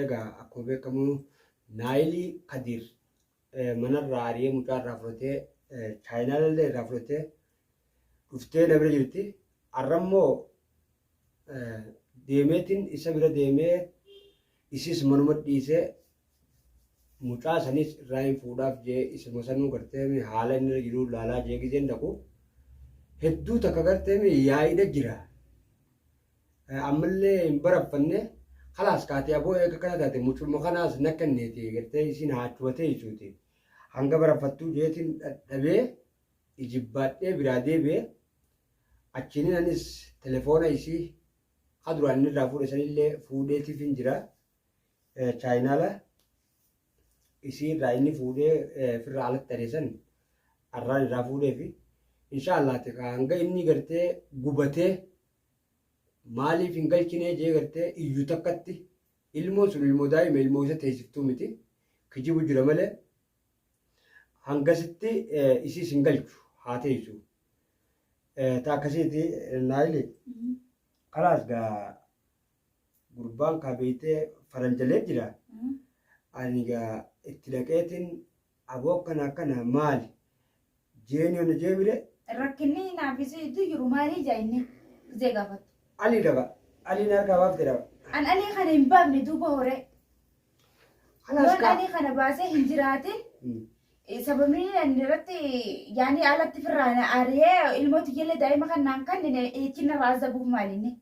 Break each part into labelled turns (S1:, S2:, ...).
S1: Egaa akkuma beekamu Naayilii Kadiir manarraa ari'ee mucaa irraa fudhatee chaayinaalallee irraa fudhatee dhuftee na bira jirti. Har'ammoo deemeetiin isa bira deemee isis manuma dhiisee mucaa sanis irraa hin fuudhaaf jee isuma sanuu gartee haala inni irra jiru laalaa jee gizeen dhaqu hedduu takka gartee yaa'idha jira. Ammallee hin baraffanne kalaas kaatee aboo eega kana taate mucuma kanaas na kenneeti gartee isiin haachumatee jechuuti. Hanga baraffattuu jeetiin dhadhabee ijibbaadhee biraa deebi'e achiinin anis telefoona isii ha duraan inni irraa fuudhe sanillee fuudheetiif hin jira chaayinaala isii irraa inni fuudhee firraa alatti adeesan arraan irraa fuudheefi inshaa allaati hanga inni gartee gubatee maaliif hin galchinee jee gartee iyyu takkatti ilmoon sun ilmoo daa'ima ilmoo isa teessiftuu miti kijibu jira malee hangasitti isiis hin galchu haa teessu ta akkasiiti naayili kalaas gaa gurbaan kaa beeytee faranjalee jira ani gaa itti dhaqeetiin Aboo akkana akkana maali? Jeeni hona jeemire? Rakkinni naaf
S2: isii iddoo jiru maalii jaa inni? Gizee gaafatu. Ali daba.
S1: Ali na harkaa baafte daba. An alii kana hin
S2: baafne duuba horee. Alas Yoon kaa. alii kana baasee hin jiraatin Hmm. eh, sababni inni irratti yaani alatti firraan ari'ee ilmooti jelle daa'ima kan naan kannine eechinarraa azabuuf maalinni.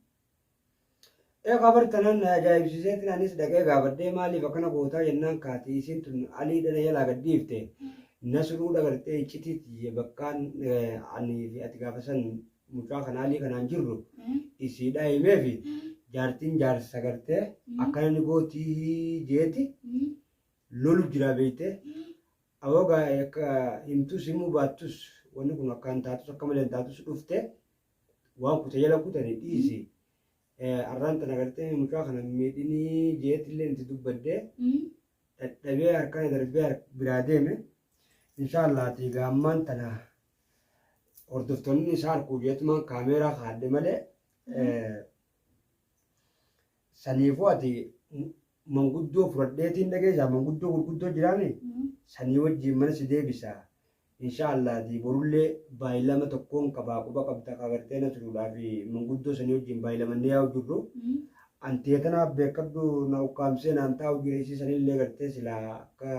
S2: Ee kabar
S1: tanaan na ajaa'ibsiiseetiin anis dhaqee gaafadhee maaliif akkana gootaa jennaan kaati isiin tun aliidha na jalaa gad dhiifte nasruu dhagartee iccitii tiyya bakkaan anii fi ati gaafa san mucaa kana alii kanaan jirru isiidhaa himee fi jaartiin jaarsa gartee akkana ni gootii jeeti lolu jiraa beeyte awogaa akka himtus himuu baattus wanni kun akkaan taatus akka malee taatus dhufte waan kute jala kutani dhiisi arraan tana gartee mucaa kana miidhinii jeetillee itti dubbadde dhadhabee harkana darbee biraa deeme inshaallah ati gaammaan tana hordoftoonni isaa harkuu jeetumaan kaameeraa kaadde malee saniifuu ati manguddoo furadheetiin dhageessaa manguddoo gurguddoo jiraame sanii wajjiin mana si deebisaa insha allaati borullee baay'ilama tokkoon qabaa quba qabda qagartee na turuudhaa fi manguddoo sanii wajjiin baay'ilamannee yaa'u jirru anteetanaa beekadhu na ukkaamsee naan taa'u jira isii sanillee gartee silaa akka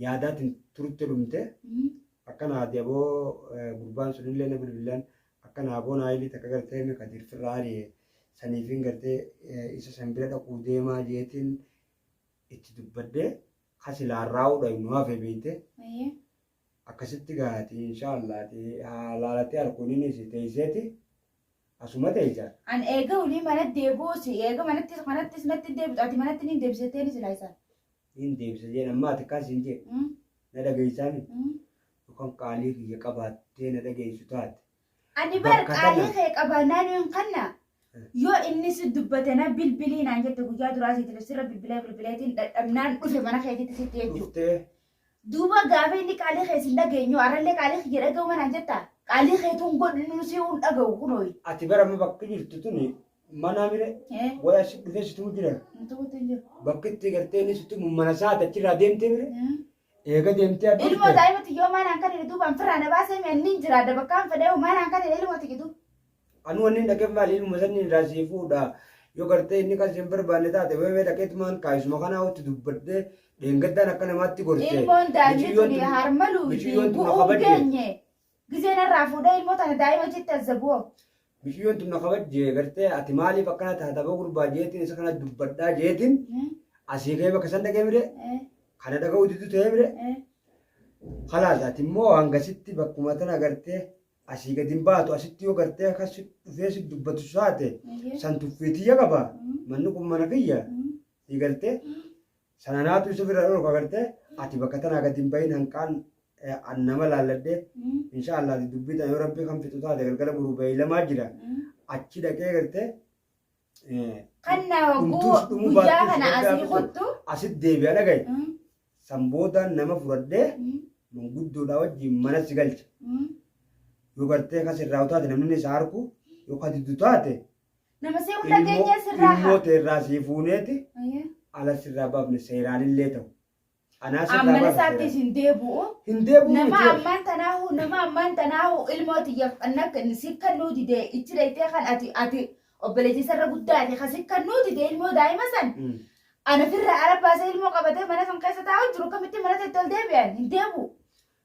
S1: yaadaatiin turte dhumte akkana haati aboo gurbaan sunillee na bilbilaan akkana aboo naayilii takka gartee mi kadiir firraa ari'e saniifiin gartee isa san bira dhaquu deemaa jeetiin itti dubbadde kasi laarraa'uudha nu hafe beeyte Akkasitti gaa ati inshaallah ati haa laalate arku nini si teyseti asuma teysa. An eega wly
S2: mana deebi'u si eega manatti kanattis natti deebitu ati manatti niin deebisa jetteeni silaa isaan. Niin deebisa
S1: jeen ammaa ati akkaan siin jee na dhageeysaami yookaan qaalii kiyya qabaattee na dhageeysu taate. Ani bar Bakka
S2: qaalii kana- kee qabaa naanoo hin kanna. Yoo inni si dubbate na bilbilii naan jette guyyaa duraa siiti sirra bilbilee bilbileetiin dadhabnaan dhufe mana keetitti sitti jechuudha. Dhuftee. Duuba gaafa inni qaalii kee sin dhageenyu arrallee qaalii kiyya dhaga'u manaan jetta. Qaalii keetuun godhu nu si hin dhaga'u kunooyi. Ati bara amma bakki
S1: jirtu tuni manaa mire Eh, waya si dhufee situu jira. nuti guutuu hin jiru. Bakki itti gartee inni situu mana isaa achirraa deemtee mire Hmm. Eega deemtee adda Ilmoo dhufte. daa'ima tiyyoo maan
S2: hankan hidhi duuba anfirraa na baasee mi anniin jiraadha bakkaan fedheehu maan hankan hidha ilmoo tiyya duuba. Anuu wanni hin
S1: dhaqeef maali ilma sanni irraa sii fuudha. Yoo gartee inni kan siin barbaanne taate weewee dhaqeetumaan kaayisuma kanaa hotti dubbadhee dheengaddaan akka namaatti gorse. Ilmoon daa'imni Miciyyoon tuni
S2: tun- harma luuti miciyyoon tun na bu'uun kabajje. geenye. Gizee narraa fuudhee ilmoo tana daa'ima jetti azzabu'oo. Miciyyoon tun na
S1: kabajjee gartee ati maaliif akkana taata boo gurbaa jeetiin isa kana dubbadhaa jeetiin asii kee bakka san dhagee mire kana dhaga'uu diddu ta'ee mire kalaas ati immoo hangasitti bakkuma tana gartee asii gadi hin baatu asitti yoo gartee akkas si dhufee si dubbatu saate san tuffiitiyya qaba manni kun mana kiyya si gartee Sananaatu isa ofirraa dhorka garte ati bakka tanaa gadi hin bahin hanqaan an nama laalladhe insha Allah ati dubbii tana yoo rabbii kan fixu taate galgala boruu beeylamaa jira achi dhaqee garte
S2: Kan na hogguu dhumtuus dhumuu guyyaa baattuus kana rabbi haa asii fixu kuttu. asit deebi'a dhagaye
S1: Mm, san boodaan nama fudhadhee mm, manguddoodhaa wajjin mana si galcha mm. yoo gartee kas irraa utaate namni isa harku yoo ka diddu taate Nama see hunda
S2: ilmoo keenyaa sirraa ilmoo haa. teerraa sii
S1: fuuneeti Ayyee. ala sirraa baafne seeraanillee ta'u. Anaa sirraa Ammana
S2: baafne isaatti seeraan. isin deebu'u. Hin deebi'u Nama miti.
S1: ammaan tanaahu nama
S2: ammaan tanaahu ilmoo tiyyaaf anna si kannuu dide ichi dhayxee kan ati ati obboleettii sarara guddaa ati kan si kannuu dide ilmoo daa'ima san Mm. ana firra arabbaasee ilmoo qabatee mana san keessa taa'u jiru kamitti mana teetti ol deebi'an hin deebu.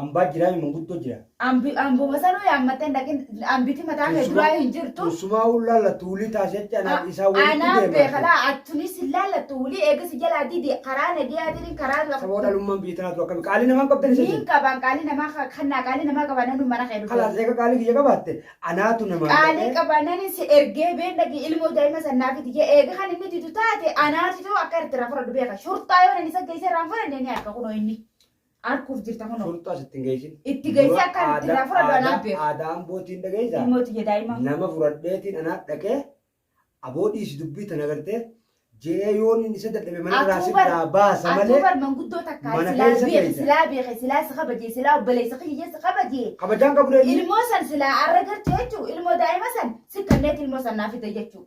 S1: Ambaa jiraami manguddoo jira. Ambi ambuma sanuu
S2: yaammattee hin dhaqin ambiti mataa kee Teessuma- duraa hin jirtu. Teessumaa ol laallattu
S1: wulii taasii achi anaaf isaa walitti Anaa deemaa. beekala attunis
S2: hin laallattu wulii eega si jalaa didi karaa nagiyaatiin karaa Saboo dhalummaan biyya tanaatu
S1: akkami qaalii namaan qabdan isa Niin qabaan qaalii namaa
S2: kannaa qaalii namaa qabaan namni mana kee dhufe. Kalaas eega qaalii kiyya qabaatte
S1: anaatu namaan Qaalii dhaqee- qabaanani
S2: si ergee been dhaqi ilmoo daa'ima sannaa fidi jee eega kan inni didu taate anaatu ta'u akka irratti irraa fudhadhu beeka. Shurtaa yoo inni isa geessee irraa hin fudhanne ni harka kunoo inni. Arkuuf jirta kunoo. Furxaa sitti hin geessin.
S1: Itti geessee akka itti
S2: irraa fudhatu anaa beeku. Aadaa ambootiin dhageessaa?
S1: Ilmoo tiyya daa'ima. Nama
S2: fudhadheetiin
S1: anaa dhaqee aboo dhiisi dubbii tana gartee je'ee yoon inni isa dadhabe mana irraa si biraa baasa Atuu malee bar manguddoo takkaa
S2: mana silaa keessa beeke keessa. silaa beeke silaa si kabajee silaa obboleessa kiyya si kabajee. kabajaan qabu dheedhii. Ilmoo
S1: san silaa arra
S2: gartu jechuun ilmoo daa'ima san si kanneet ilmoo san naa fide jechuun.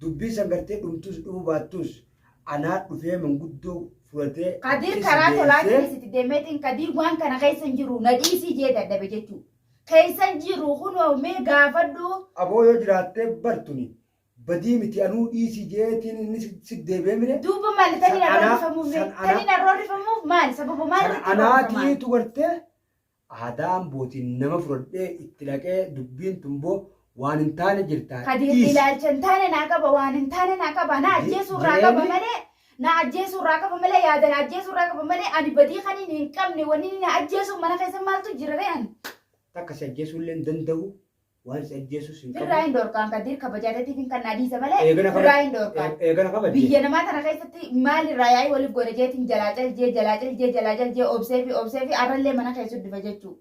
S1: Dubbiin san gartee dhumtuus dhumuu baattuus anaa dhufee manguddoo furatee Kadiir itti karaa si deessee.
S2: tolaatiinis itti deemeetiin kadiir waan kana keessa hin jiru na dhiisii jee dadhabe jechuu. Keessa hin jiru kunoo mee gaafadhu. Aboo yoo jiraattee
S1: bartuni badii miti anuu dhiisii jeetiin inni si- si deebi'ee mire. Duuba maali San taniin arroo
S2: anaa- rifamuuf san mee? anaa- Taniin arroo rifamuuf maali? Sababa maali San irratti arroo rifamaa? anaatiitu gartee
S1: Aadaa ambootiin nama fudhadhee itti dhaqee dubbiin tun boo waan hin taane jirtaa Kadiir dhiisi. ilaalcha hin
S2: taane naa qaba waan hin taane naa qaba na Je- ajjeesuu irraa qaba jireenyi- malee na ajjeesuu irraa qaba malee yaada na ajjeesuu irraa qaba malee ani badii kan inni hin qabne wanni inni na ajjeesuu mana keessa maaltu jira ree ani. Takka si ajjeesuu
S1: illee hin danda'u. Waan si ajjeesus hin Birraa qabu. hin dhorkaan Kadir
S2: kabajaa teetiif hin kannaa dhiisa malee Eegana birraa hin kabajje. dhorkaan. Ee- Eegana kabajje. Biyya namaa
S1: tana keessatti
S2: maal irraa yaa'ii waliif godha jeetiin jalaa caljee jalaa caljee jalaa caljee obsee fi obsee fi arrallee mana keessu dhufa jechuu.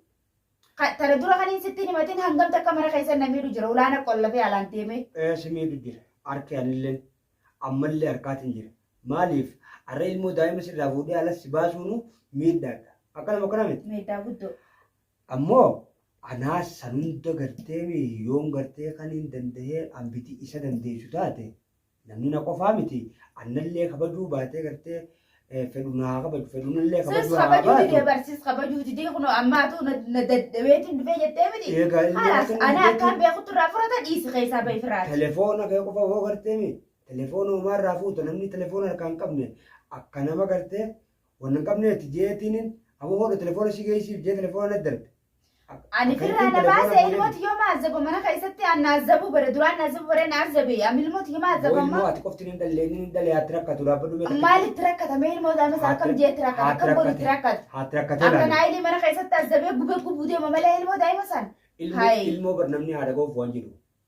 S2: Ka- Tana dura kan hin sittiin himatiin hangam takka mana keessa na miidhu jira ulaana qolla fi alaan deemee. Ee, si miidhu jira.
S1: Harki anilleen ammallee harkaatiin jira. Maaliif? Har'a ilmoo daa'ima sirraa fuudhee alas si baasuunu miidhaadha. Akkanuma akkana miti. Miidhaa guddoo.
S2: Ammo
S1: anaa san hunda garteemi yoon gartee kaniin dandahee ambiti isa dandeessu taate namni na qofaa miti annallee kabajuu baatee gartee fedhu na haa kabaju fedhu nallee Sis kabajuu haa kabajuu didee baatu bar
S2: sis kabajuu didee kunoo ammaatu na na dadhabeetiin dhufee jettee miti. eegaa inni Halaas rakkanni anaa akkaan dhufeetiin beekutti irraa furata dhiisi keessaa bahi firaati. telefoona kee qofa hoo
S1: garteemi telefoona homaa irraa fuuta namni telefoona harkaa hin qabne akka nama gartee Wanna hin qabneeti jeetiinin amma hoodha telefoona si geessiif jee telefoona na darbe. Ani
S2: firraa na baase ilmooti yoo maazzabu mana keessatti aan naazzabu bare duraan naazzabu bare naazzabe amma ilmooti yoo maazzabu amma. Ilmoo ati qofti hin dhallee inni
S1: hin dhalee haatti rakkatu dhaabbadhu mee takkitti. Maalitti rakkata mee ilmoo
S2: isaa ammas akkam jeetti rakkata akkam godhitti rakkata. Haatti rakkatee Amma laale.
S1: naayilii mana keessatti
S2: azzabee gubee gubuu deema malee ilmoo daa'ima san. Ilmoo Hayi. ilmoo bar
S1: namni haadha goofu waan jedhu.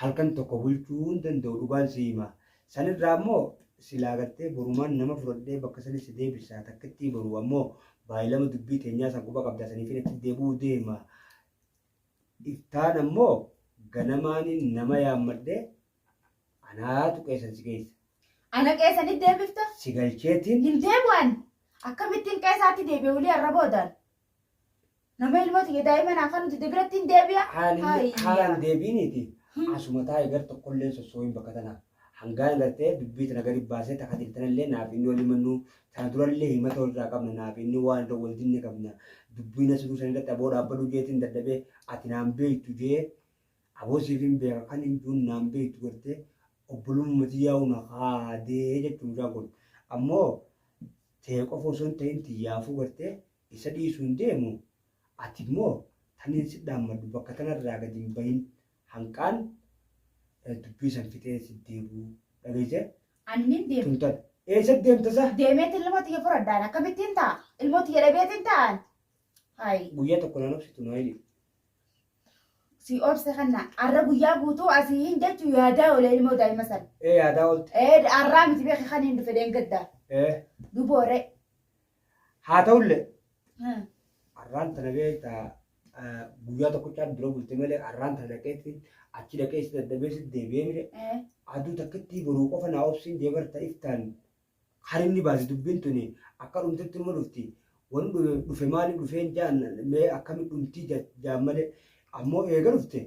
S1: halkan tokko bulchuu hin danda'u dhugaan si hima. San irraa ammoo silaa gartee borumaan nama fudhadhee bakka sanii si deebisa takkittii boru ammoo baay'ilama dubbii teenyaa san quba qabdaa saniifin achi deebi'uu deema. Iftaan ammoo ganamaaniin nama yaammadhee anaatu qeesan si geessa. Ana qeesanii
S2: deebifta? Si galcheetiin
S1: Hin deebi'an.
S2: Akkamittiin qeesaatti deebi'e wulii arra boodaan? Nama ilmoo tiyya daa'ima naa kan nuti debiratti hin deebi'a. Haalli haalaan
S1: deebiiniiti. Asuma taa'e gar tokkollee sossooyin bakka tana. Hangaan gartee dubbii tana gadi baasee takka tiltanallee naaf inni waliin mannuu tana durallee himata walirraa qabna naaf inni waan irra wal dinne qabna. Dubbii na siruu san irratti aboo dhaabbadhu jeetiin dadhabee ati naan beektu jee aboo siif hin beeka kan hin duun naan beektu gartee obbolumma tiyyaa'u na kaadee jechuun mucaan kun. Ammoo tee qofa osoo hin tahin tiyyaafuu gartee isa dhiisuu hin deemu ati immoo taniin si dhaammadhu bakka tana irraa gadi hin bahin hanqaan dubbii san fixee si deebu dhageesse Ani nin deema.
S2: tun tan eessa
S1: deemta sa Deemeet ilmoo tiyya
S2: furadhaan akkamittiin ta'a? Ilmoo tiyya dhabeetiin ta'an. Hayi. guyyaa
S1: tokko naan obsitu naa hidhi
S2: Si obse kanna. Arra guyyaa guutuu asii hin jechu yaadaa olee ilmoo daa'ima san. Ee yaadaa ooltu. Ee
S1: arraa miti beeki
S2: kan hin dhufe deengadda. Ee. Duboore.
S1: Haa ta'ullee. Arraan tana beekta guyyaa tokkochaa dura bulte malee arraan tana dhaqeetti achi dhaqee si dadhabee si deebi'ee mire aduu takkitti boruu qofa naa obsiin deebarta iftaan harinni baasi dubbin tuni akka dhumtutti immo dhufti wan dhufe maali dhufeen jaan mee akkami dhumtii jaan male ammo eega dhufte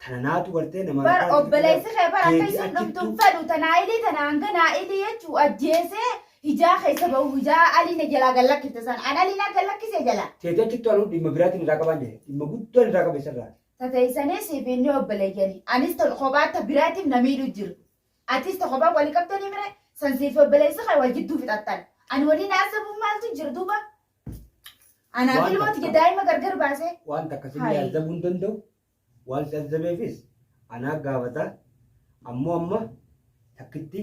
S1: tana naatu gartee nama bar obboleessi kee
S2: bar akka isin dhumtun fedhu tanaa ilii tanaa hanga naa ilii jechuu ajjeesee hijaa keessa bahu hijaa aliina jalaa gallakkifte san an aliinaa gallakkise jala teetee achittu anu dhimma
S1: biraatiin irraa qabaan jedhe dhimma guddaan irraa qabe isarraa tateessanis fi
S2: inni obboleeyyani anis kophaatti biraatiif na miidhu jiru Atis ta kophaa wali qabdanii mire san siifi obboleessi kee wal jidduu fixattan. Ani waliin haasa'uuf maaltu jira duuba? Anaaf Waan ilmoo takka. tiyya daa'ima gargar baasee. Waan takka si Hai.
S1: azzabuu hin danda'u. Waan si azzabeefis anaa gaafata. Ammoo amma takkitti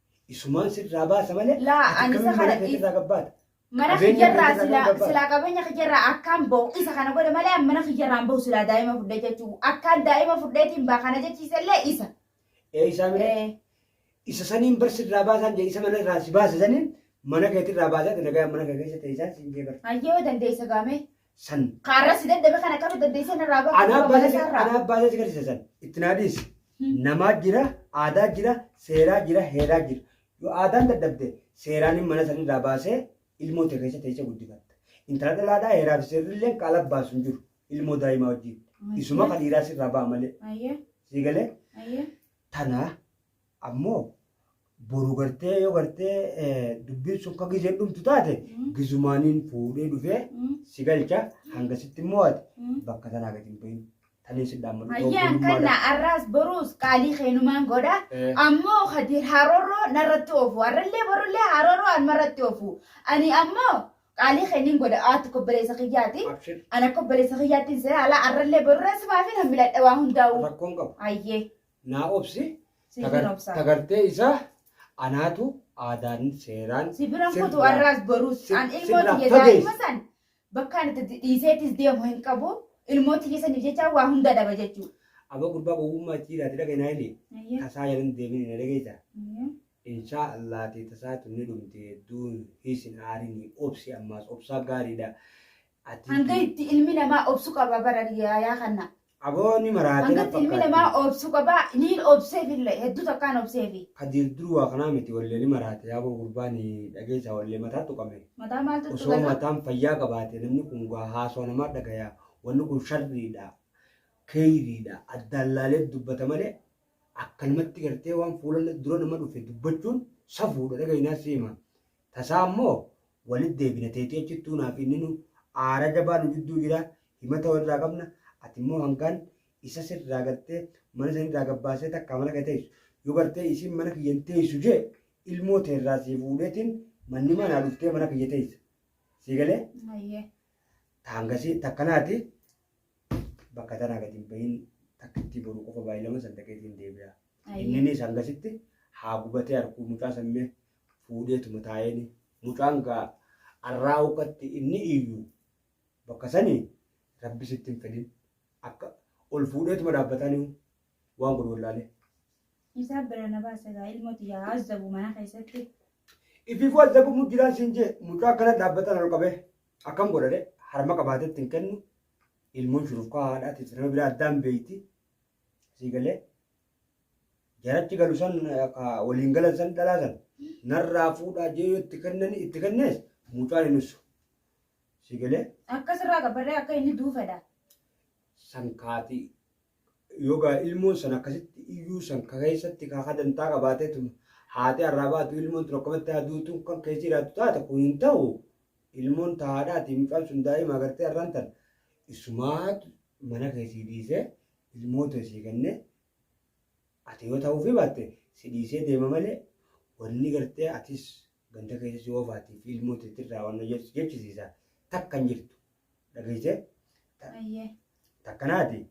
S1: Isumaan sirraa baasa malee. Laa, ati ani isa akkamiin kana mana keetii
S2: dhiis- irraa gabbaata?
S1: Mana Qabeenya kiyyarraa
S2: keetii irraa silaa gabbaata. silaa qabeenya kiyyarraa akkaan bahu isa kana godhe malee an mana kiyyarraan bahu silaa daa'ima fudhee jechuu akkaan daa'ima fudheetiin baa kana jechiisellee isa. Ee isaa mire
S1: Eh, isa saniin bar sirraa baasaan jee isa mana irraa si baasa saniin mana keetii irraa baasaa nagaa mana kee keessa teessaa siin jee bar. Hayyoo dandeessa gaamee.
S2: San. Kaarra
S1: si daddabe kan
S2: akkamitti dandeessee narraa bahu Anaa qaba baasee si- balasaarraa. anaa baasee
S1: si garsiisa san. Itti naa dhiisi. Namaa jira, aadaa jira, seeraa jira, heeraa jira. Yoo aadaan dadhabde seeraan mana san irraa baasee ilmoo tee keessa teessee guddifatta. Intala dhalaadhaa heeraa fi seerri illee kan ala baasu hin jiru. Ilmoo daa'imaa wajjin. Isuma kan dhiiraa sirraa ba'a malee. Ayyee, Sii galee ayyee. tanaa Ammoo boru gartee yoo gartee dubbiin sun ka gizeen dhumtu taate gizumaaniin fuudhee dhufee si galcha hangasitti immoo ati bakka tanaa gadi hin bahin. Taniin si dhaammadhu. Hayyaan
S2: kanna arraas boruus qaalii keenumaan godha. Ammoo kadiir harooroo narratti oofu. Harrallee borullee harooroo anmarratti oofu. Ani ammoo qaalii keenin godha. Aatti kobboleessa kiyyaati. Ana kobboleessa kiyyaattiin seera alaa harrallee borurra simaafin hammiladha waa hundaa'u. Rakkoon qabu. Hayyee.
S1: Naa
S2: obsi
S1: Siifin tagar- obsa. tagartee isaa anaatu aadaan seeraan Si biran kutu sirraa- arraas
S2: boruus. si- An ilmoo sirraa tiyya fageessi. daa'ima san bakkaan itti dhiiseetis deemu hin qabu. Ilmoo tiyya saniif jecha waa hunda dhaba jechuu. Aba
S1: gurbaa gowwummaa itti jiraate dhaga naa ilee Ayyee. tasaa jalan
S2: deemini na
S1: dhageessa. Ayyee.
S2: Inshaa Allah
S1: tee tasaa tunni dhumti hedduun hiisin aarini obsi ammaas obsaa gaariidha. Ati- Hanga
S2: itti ilmi namaa obsu qaba bara yaa kanna. Aboo ni maraate na
S1: Hangatti ilmi namaa fakkaatti.
S2: obsu qaba niin obseefillee hedduu takkaan obseefi. Kadiir dur waa kanaa
S1: miti wallee ni maraate yaaboo gurbaa ni dhageessaa wallee mataa tuqame. Mataa maaltu Osoo tuqame?
S2: mataan fayyaa
S1: qabaate namni kun gaa haasoo namaa dhagayaa wanni kun sharriidha keeyriidha addaan laalee dubbata malee akkanumatti gartee waan fuula dura nama dhufe dubbachuun safuudha dhagahinaa siima. Tasaa immoo walit deebina teetii achittuu naaf inninu aara jabaa nu jidduu jira himata walirraa qabna ati immoo hangaan isa sirraa gartee mana sanirraa gabbaasee takkaa mana kee teessu yoo gartee isiin mana kiyya hin teessu jee ilmoo teerraa sii fuudheetiin mannimaa naa dhuftee mana kiyya teessa sii galee Ayyee.
S2: taangasii
S1: takkanaati bakka tanaa gadi hin bahin takkittii boruu qofa baay'ee lama san dhaqeetiin deebi'a. Ayyee. Inninis hangasitti haa gubatee harkuu mucaa sammee fuudheetuma taa'eeni. Mucaan gaa arraa ukkatti inni iyyu bakka sani rabbi sitti hin fedhin akka ol fuudheetuma dhaabbataani waan godhu wallaalee. Isaa
S2: bira na baasa gaa ilmoo tiyyaa haa azzabu mana keessatti. Ifiifuu
S1: azzabamu jiraan siin jee mucaa akkana dhaabbatan ol qabee akkam godhadhe harma qabaatetti hin kennu ilmoon shurufkaa haadhaatiif nama biraa addaan beeyti Sii galee jarachi galu san ka waliin galan san dhalaa san narraa fuudhaa jee yoo itti kennani itti kennees mucaan hin ussu. Sii galee Akka sirraa gabbarree
S2: akka inni du'u fedha. san
S1: kaati yogaa ilmoon san akkasitti iyyuu san ka keessatti ka hadantaa qabaateetu haati arraa baatu ilmoon tun akkamatti haduutu kan keessa jiraatu taate kun hin ta'u Ilmoon ta haadhaati mucaan sun daa'ima agartee har'aan tan isumaatu mana kee sii dhiisee ilmoo tee sii kennee ati yoo ta'uufii baatte si dhiisee deema malee wanni gartee atis ganda keessa si oofaati fi ilmoo tee tirraa wanna jedhu si jechisiisa takka hin jirtu dhageessee
S2: Ayyee. takkanaati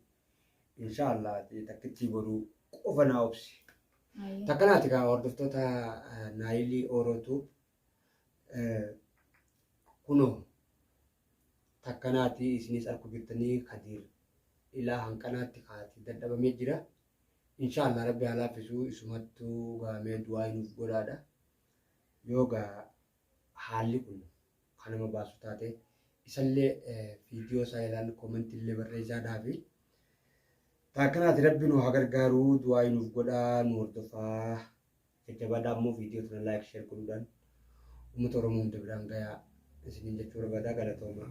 S1: insha Allah ati takkittii boruu qofa naa obsi Ayyee. takkanaati kaa hordoftoota naayilii oorootuu Kunoo takkanaati isinis arku jirtanii kadiir ilaa hanqanaatti kaati dadhabamee jira. Inshaallah rabbi haa laaffisuu isumattu gaamee du'aa nuuf godhaadha. Yoo gaa haalli kun kan nama baasu taate isallee viidiyoo isaa ilaalu koomentii illee barreessaa dhaafi. Taakkanaati rabbi nu haa gargaaru du'aa nuuf godhaa nu hordofaa Jajjabaadhaa ammoo viidiyoo tana like share godhuudhaan uummata Oromoo hunda biraan gayaa isiniin jechuu barbaadaa galatoomaa.